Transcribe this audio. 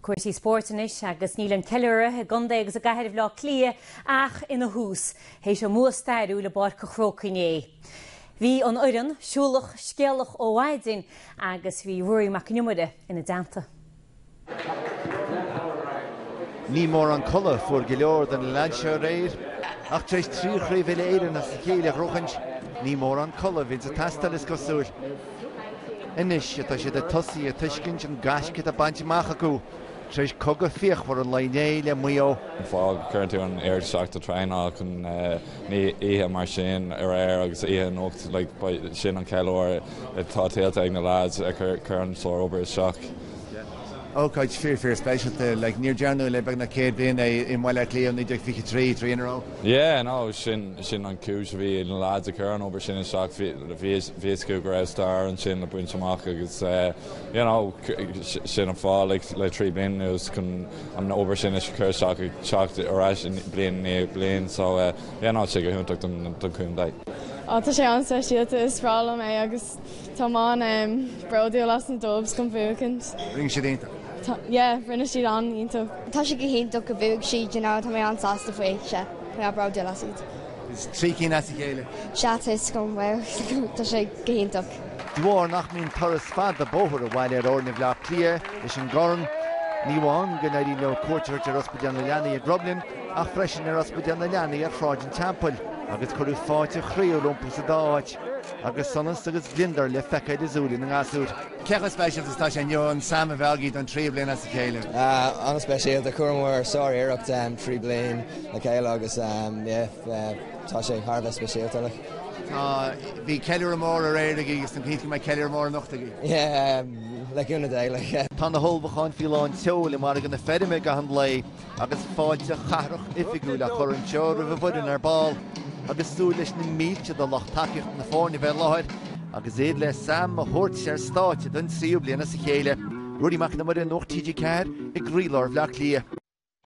Cúrsaí spóirt anois agus níl an ceiliúradh i gcontae agus i gcathair Bhaile Átha Cliath ach ina thús théis a mbua stairiúil i bPáirc an Chrócaigh inné, bhí an fhoireann siúlach scéalach ó mhaidin agus bhí Ruairí Mac Con Iomaire ina dteannta. Ní móran codladh a fuair go leor de na leaids seo aréir ach tar éis trí chraobh uile-Éireann as a chéile a ghnóchaint, ní mórán codladh a bhíonn ag teastáil, is cosúil. Anois atá siad ag tosaí ag tuiscint an gaisce atá bainte amach acu tar éis cogadh fíochmhar an lae inné le Maigh Eo. Cuireann tú an oiread isteach ó thraenáil chun oíche mar sin aréir agus oíche anocht, like, sin an ceiliúradh atá tuillte ag na lads, chuir an sár-obair isteach. Ócáid fíor fíor speisialta. Like, níor dearnadh le beagnach céad bliain é i mBaile Átha Cliath ó 1923 trí in a row. Yeah, no, sin, sin an cúis a bhí ag na lads ag cur an obair sin isteach, bhí, bhí, bhí fhios acu go raibh stair ansin le baint amach agus eh, you know, sin an fáth like le trí bliana anuas chun an obair sin a cur isteach ag teacht ar ais bliain i ndiaidh bliain so eh, yeah no, tá sé go hiontach don, don chontae. Á, tá sé an-speisialta, is breá liom é agus. Tá mé an, em, bródúil as na Dubs chun bhuachaint. Rinne siad iontach. Tá, yeah, rinne siad an-iontach. Tá sé go hiontach go bhuaigh siad, you know, tá mé an-sásta faoi, sea, tá mé bródúil as iad. Is trí cinn as a chéile. Sea, tá 'fhios agam, bhuel, tá sé go hiontach. De bharr nach mbíonn turas fada bóthair abhaile ar fhoirne Bhleá Cliath leis an gcorn, ní amháin go n-éiríonn leo cuairt a thabhairt ar Ospidéal na Leanaí i gCromghlinn ach freisin ar Ospidéal na Leanaí ar Shráid an Teampaill agus cuireadh fáilte chroíúil rompu sa dá áit. Agus sonas agus gliondar le feiceáil i súile na ngasúr. Cé chomh speisialta is atá sé inniu an Sam a bheith againn don tríú bliain as a chéile? An-speisialta. Chuireamar sár-iarracht trí bliain le chéile agus tá sé thar a bheith speisialta. Bhí ceiliúradh mór aréir againn agus tá fhios agam go mbeidh ceiliúradh mór anocht againn. Le cúnamh Dé. Tá na hullmhúcháin faoi lán tseoil i Margadh na Feirme i gcaitheamh an lae. Agus fáilte chathrach oifigiúil á cur anseo roimh an bhfoireann ar ball, agus súil leis na mílte de lucht tacaíochta na foirne bheith i láthair, agus iad le Sam a thabhairt ar stáitse don tríú bliain as a chéile, Ruairí Mac Con Iomaire, Nuacht TG4, i gcroílár Bhleá Cliath.